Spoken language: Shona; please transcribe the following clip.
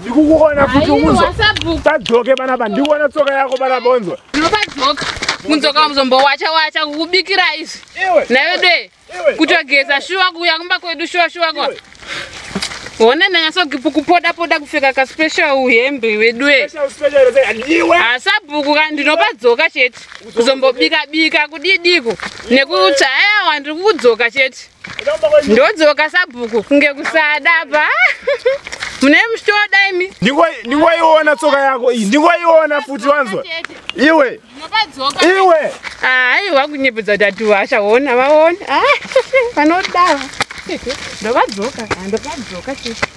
ndikukuona futi unzwa tadzoke panapa ndikuona tsoka yako panapa unzwa ndinopadzoka mudzoka wamuzombo wacha wacha kukubikira izvi navedoe kutogeza shuwa kuuya kumba kwedu shuwa shuwa kwa hona ndanyasokupoda poda kupfeka kaspecial uhembe wedue hasabhuku ka ndinopadzoka chete kuzombobika bika kudidiko nekutsva ayawa ndiri kukudzoka chete ndodzoka sabhuku kunge kusada pa mune muchitoda imi ndingoiona tsoka yako iyi ndingoiona futi wanzwa iwe iwe hayi ah, wakunyepedza kuti atiwasha wona vaona ah, vanodawa ndovadzoka ah, ndovadzoka chete